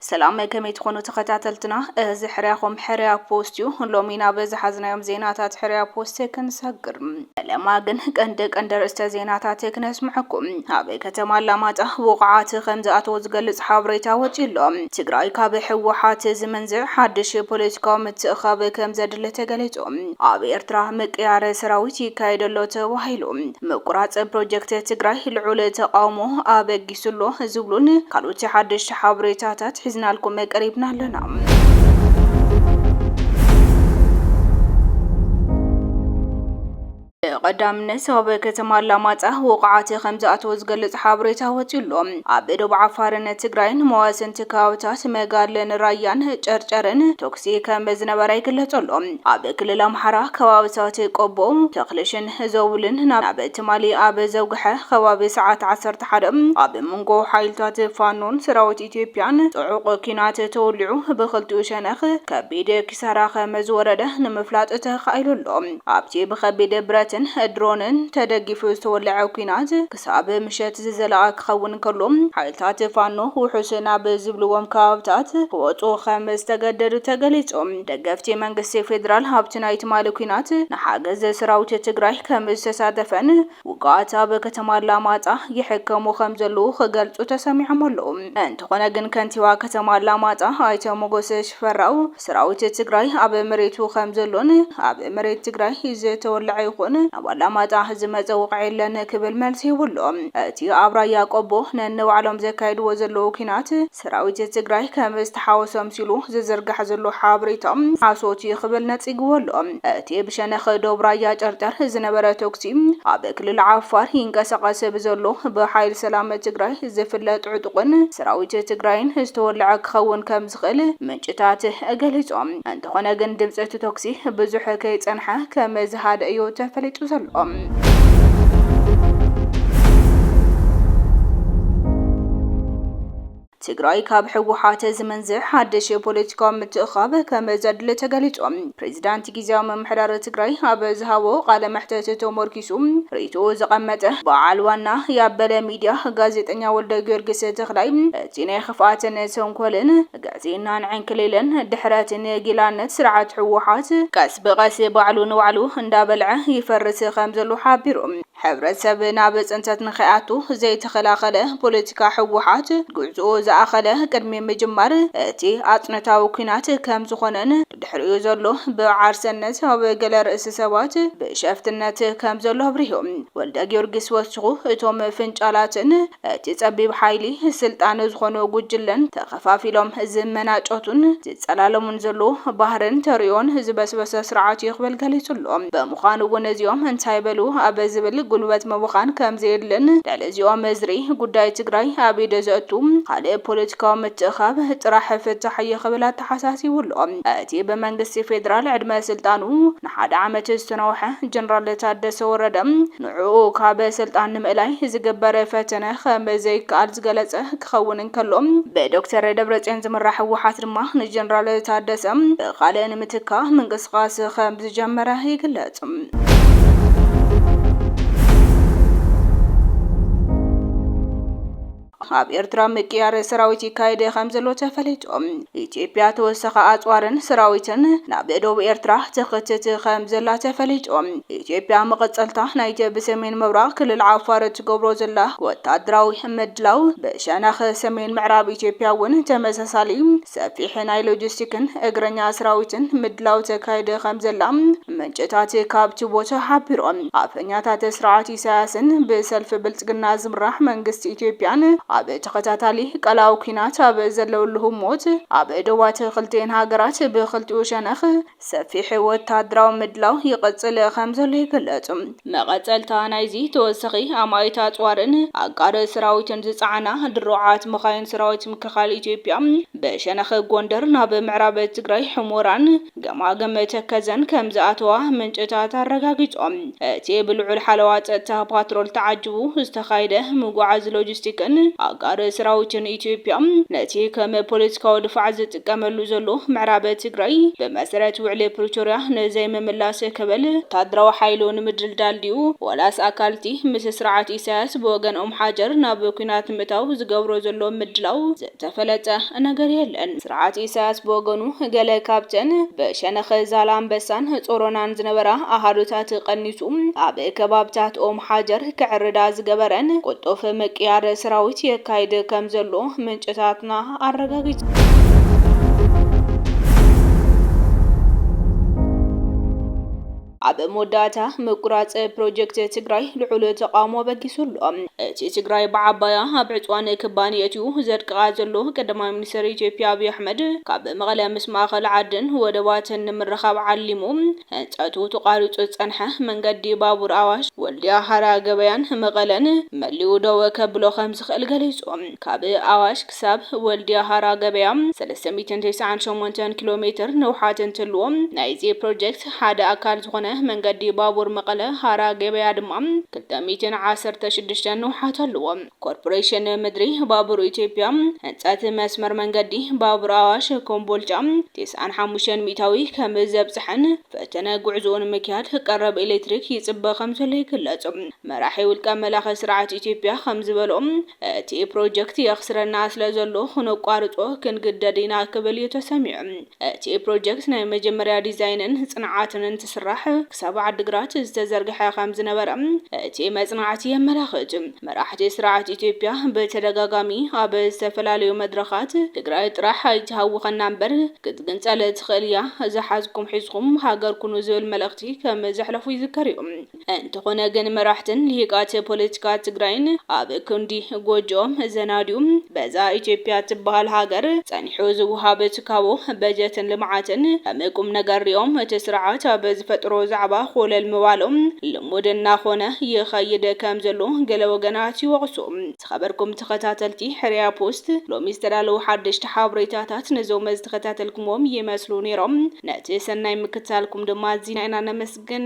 ሰላም ከመይ ትኾኑ ተኸታተልትና፣ እዚ ሕርያኹም ሕርያ ፖስት እዩ። ሎሚ ናብ ዝሓዝናዮም ዜናታት ሕርያ ፖስት ክንሰግር ፈለማ ግን ቀንዲ ቀንዲ ኣርእስተ ዜናታት ክነስምዐኩም። ኣብ ከተማ ኣላማጣ ውቑዓት ከምዝኣተው ዝገልጽ ሓበሬታ ወጺኡ ኣሎ። ትግራይ ካብ ህወሓት ዝመንዝዕ ሓድሽ ፖለቲካዊ ምትእኽኻብ ከምዘድሊ ተገሊጹ። ኣብ ኤርትራ ምቅያር ሰራዊት ይካየድ ኣሎ ተባሂሉ። ምቁራጽ ፕሮጀክት ትግራይ ልዑል ተቓውሞ ኣበጊሱ። ተበጊሱ ኣሎ ዝብሉን ካልኦት ሓደሽቲ ሓበሬታታት ሒዝናልኩም ቀሪብና ኣለና። ብቐዳምነት ኣብ ከተማ ኣላማጣ ውቕዓት ከም ዝኣተወ ዝገልጽ ሓበሬታ ወጺኡ ኣሎ። ኣብ ዶብ ዓፋርን ትግራይን መዋሰንቲ ከባብታት መጋድለን ራያን ጨርጨርን ተኩሲ ከም ዝነበረ ይግለጽ ኣሎ። ኣብ ክልል ኣምሓራ ከባብታት ቆቦ፣ ተክልሽን ዘውልን ናብ ትማሊ ኣብ ዘውግሐ ከባቢ ሰዓት ዓሰርተ ሓደ ኣብ መንጎ ሓይልታት ፋኖን ሰራዊት ኢትዮጵያን ጽዑቕ ኲናት ተወሊዑ ብኽልቲኡ ሸነኽ ከቢድ ኪሳራ ከመዝወረደ ንምፍላጥ ተኻኢሉ ኣሎ። ኣብቲ ብከቢድ ብረትን ድሮንን ተደጊፉ ዝተወለዐ ኲናት፣ ክሳብ ምሸት ዝዘለቐ ክኸውን እንከሎ፣ ሓይልታት ፋኖ ውሑስ ናብ ዝብልዎም ከባብታት ክወጹ ከም ዝተገደዱ ተገሊጹ። ደገፍቲ መንግስቲ ፌደራል ኣብቲ ናይ ትማሊ ኲናት ንሓገዝ ሰራዊት ትግራይ ከም ዝተሳተፈን ውጉኣት ኣብ ከተማ ኣላማጣ ይሕከሙ ከም ዘለዉ ክገልጹ ተሰሚዖም ኣለዉ። እንተኾነ ግን ከንቲባ ከተማ ኣላማጣ ኣይተ ሞጎስ ሽፈራው፣ ሰራዊት ትግራይ ኣብ መሬቱ ከምዘሎን ኣብ መሬት ትግራይ ዝተወለዐ ይኹን ናብ ኣላማጣ ዝመፀ ወቕዒ የለን ክብል መልሲ ሂቡ ኣሎ። እቲ ኣብ ራያ ቆቦ ነንባዕሎም ዘካይድዎ ዘለዉ ኲናት ሰራዊት ትግራይ ከም ዝተሓወሶ ኣምሲሉ ዝዝርጋሕ ዘሎ ሓበሬታ ሓሶት እዩ ክብል ነፂግዎ ኣሎ። እቲ ብሸነኽ ዶብ ራያ ጨርጨር ዝነበረ ተኩሲ ኣብ ክልል ዓፋር ይንቀሳቐስ ብዘሎ ብሓይል ሰላም ትግራይ ዝፍለጥ ዕጡቕን ሰራዊት ትግራይን ዝተወለዐ ክኸውን ከም ከምእትኽእል ምንጭታት ገሊጾም። እንተኾነ ግን ድምጺ እቲ ቶክሲ ብዙሕ ከይጸንሓ ከም ዝሃደ እዩ ተፈሊጡ ዘሎ። ትግራይ ካብ ህወሓት ዝምንዝዕ ሓድሽ ፖለቲካዊ ምትእኽኻብ ከም ዘድሊ ተገሊጹ። ፕሬዚዳንት ጊዜያዊ ምምሕዳር ትግራይ ኣብ ዝሃቦ ቃለ መሕተት ተሞርኪ ተበጊሱ ርእይትኡ ዘቐመጠ በዓል ዋና ያበለ ሚድያ ጋዜጠኛ ወልደጊዮርጊስ ተኽላይ እቲ ናይ ኽፍኣትን ተንኮልን፣ ግዕዝይናን ዕንክሊልን ድሕረት ንጊላነት ስርዓት ህወሓት ቀስ ብቐስ ባዕሉ ንባዕሉ እንዳበልዐ ይፈርስ ከምዘሎ ሓቢሩ። ሕብረተሰብ ናብ ፅንተት ንኸይኣቱ ዘይተኸላኸለ ፖለቲካ ህወሓት ጉዕዝኡ ዝኣኸለ ቅድሚ ምጅማር እቲ ኣፅንታዊ ኲናት ከምዝኾነን፣ ትርእዩ ዘሎ ብዓርሰነት ኣብ ገለ ርእሲ ሰባት ብሸፍትነት ከም ዘሎ ኣብሪሁ። ወልደጊዮርጊስ ወሲኹ፣ እቶም ፍንጫላትን እቲ ጸቢብ ሓይሊ ስልጣን ዝኾኖ ጉጅለን ተኸፋፊሎም ዝመናጨቱን ዝጸላለሙን ዘሎዉ ባህርን ተርእዮን ዝበስበሰ ስርዓት'ዩ ክብል ገሊጹ'ሎ። ብምዃኑ'ውን እዚኦም እንታይ በሉ ኣብ ዝብል ጉልበት ምብኻን ከም ዘየድልን ልዕሊ እዚኦም እዝሪ ጉዳይ ትግራይ ኣብ ኢድ ዘእቱ ካልእ ፖለቲካዊ ምትእኻብ ጥራሕ ፍታሕ'ዩ ክብል ተሓሳሲቡ ኣሎ። እቲ ብመንግስቲ ፌደራል ዕድመ ስልጣኑ ንሓደ ዓመት ዝተናውሐ ጀነራል ታደሰ ወረደ፣ ንዕኡ ካብ ስልጣን ንምእላይ ዝግበር ፈተነ ከም ዘይከኣል ዝገለጸ ክኸውን እንከሎ፣ ብዶክተር ደብረጽዮን ዝምራሕ ህወሓት ድማ ንጀነራል ታደሰ ብኻልእ ንምትካእ ምንቅስቓስ ከም ዝጀመረ ይግለጽ። ኣብ ኤርትራ ምቅያር ሰራዊት ይካየድ ከምዘሎ ተፈሊጡ። ኢትዮጵያ ተወሳኺ ኣጽዋርን ሰራዊትን ናብ ዶብ ኤርትራ ትኽትት ከምዘላ ተፈሊጡ። ኢትዮጵያ መቐጸልታ ናይቲ ብሰሜን ምብራቕ ክልል ዓፋር እትገብሮ ዘላ ወተሃደራዊ ምድላው፣ ብሸነኽ ሰሜን ምዕራብ ኢትዮጵያ እውን ተመሳሳሊ ሰፊሕ ናይ ሎጂስቲክን እግረኛ ሰራዊትን ምድላው ተካይድ ከምዘላ ምንጭታት ካብቲ ቦታ ሓቢሮም። ኣፈኛታት ስርዓት ኢሳያስን ብሰልፊ ብልጽግና ዝምራሕ መንግስቲ ኢትዮጵያን ኣብ ተኸታታሊ ቀላዊ ኲናት ኣብ ዘለውሉ ህሞት፣ ኣብ ዶባት ክልቲኤን ሃገራት ብኽልቲኡ ሸነኽ ሰፊሕ ወተሃደራዊ ምድላው ይቕጽል ከምዘሎ ይግለጽ። መቐጸልታ ናይዚ ተወሳኺ ኣማኢት ኣጽዋርን ኣጋር ሰራዊትን ዝጸዓና ድሩዓት መኻይን ሰራዊት ምክልኻል ኢትዮጵያ ብሸነኽ ጎንደር ናብ ምዕራብ ትግራይ ሑሞራን ገማግም ተከዘን ከምዝኣተዋ ምንጭታት ኣረጋጊፆም። እቲ ብልዑል ሓለዋ ፀጥታ ፓትሮል ተዓጅቡ ዝተኻየደ ምጉዓዝ ሎጂስቲክን ኣጋር ሰራዊትን ኢትዮጵያ ነቲ ከም ፖለቲካዊ ድፋዕ ዝጥቀመሉ ዘሎ ምዕራብ ትግራይ ብመሰረት ውዕሊ ፕሪቶርያ ንዘይምምላስ ክብል ወታደራዊ ሓይሉ ንምድልዳል ድዩ ዋላስ ኣካል'ቲ ምስ ስርዓት ኢሳያስ ብወገን ኦምሓጀር ናብ ኲናት ንምእታው ዝገብሮ ዘሎ ምድላው ዝተፈለጠ ነገር የለን። ስርዓት ኢሳያስ ብወገኑ፣ ገለ ካብተን ብሸነኽ ዛላምበሳን ጾሮናን ዝነበራ ኣሃዱታት ቀኒሱ፣ ኣብ ከባብታት ኦም ሓጀር ከዕርዳ ዝገበረን ቅልጡፍ ምቅያር ሰራዊት የካይድ ከምዘሎ ምንጭታትና ኣረጋጊጸን። ኣብ መወዳእታ፣ ምቁራጽ ፕሮጀክት ትግራይ ልዑል ተቓውሞ ኣበጊሱ ኣሎ። እቲ ትግራይ ብዓባያ ኣብ ዕጽዋን ክባን የእትዩ ዘድቅቓ ዘሎ ቀዳማይ ሚኒስተር ኢትዮጵያ ኣብይ ኣሕመድ፣ ካብ መቐለ ምስ ማእኸል ዓድን ወደባትን ንምርኻብ ዓሊሙ ህንጸቱ ተቋሪጹ ዝጸንሐ መንገዲ ባቡር ኣዋሽ፣ ወልድያ፣ ሃራ ገበያን መቐለን መሊኡ ደው ከብሎ ከምዝኽእል ገሊጹ። ካብ ኣዋሽ ክሳብ ወልድያ ሃራ ገበያ ሰለስተ ሚእትን ተስዓን ሸሞንተን ኪሎ ሜትር ንውሓት እንትህልዎ፣ ናይዚ ፕሮጀክት ሓደ ኣካል ዝኾነ መንገዲ ባቡር መቐለ ሃራ ገበያ ድማ ክልተ ሚእትን ዓሰርተ ሽዱሽተን ንውሓት ኣለዎ። ኮርፖሬሽን ምድሪ ባቡር ኢትዮጵያ ህንፀት መስመር መንገዲ ባቡር ኣዋሽ ኮምቦልቻ ተስዓን ሓሙሽተን ሚእታዊ ከም ዘብፀሐን ፈተነ ጉዕዞኡ ንምክያድ ቀረብ ኤሌክትሪክ ይፅበ ከም ዘሎ ይግለፅ። መራሒ ውልቀ መላኺ ስርዓት ኢትዮጵያ ከም ዝበልኦ፣ እቲ ፕሮጀክት የኽስረና ስለዘሎ ክነቋርጾ ክንግደድ ኢና ክብል እዩ ተሰሚዑ። እቲ ፕሮጀክት ናይ መጀመርያ ዲዛይንን ጽንዓትን እንትስራሕ ክሳብ ዓዲግራት ዝተዘርግሐ ከምዝነበረ እቲ መጽናዕቲ የመላኽት። መራሕቲ ስርዓት ኢትዮጵያ ብተደጋጋሚ ኣብ ዝተፈላለዩ መድረኻት ትግራይ ጥራሕ ኣይትሃውኸና እምበር ክትግንጸል ትኽእል እያ፣ ዝሓዝኩም ሒዝኩም ሃገር ኩኑ ዝብል መልእኽቲ ከምዘሕለፉ ይዝከር እዩ። እንተኾነ ግን መራሕትን ሊሂቃት ፖለቲካ ትግራይን ኣብ ክንዲ ጎጆኦም ዘናድዩ በዛ ኢትዮጵያ እትበሃል ሃገር ጸኒሑ ዝወሃብ ትካቦ በጀትን ልምዓትን ከም ቁምነገር ሪኦም እቲ ስርዓት ኣብ ዝፈጥሮ ዛዕባ ኮለል ምባሎም ልሙድ እናኾነ ይኸይድ ከም ዘሎ ገለ ወገናት ይወቕሱ። ዝኸበርኩም ተኸታተልቲ ሕርያ ፖስት ሎሚ ዝተዳለዉ ሓደሽቲ ሓብሬታታት ነዞም ዝተኸታተልኩምዎም ይመስሉ ኔሮም። ነቲ ሰናይ ምክትታልኩም ድማ ኣዚና ኢና ነመስግን።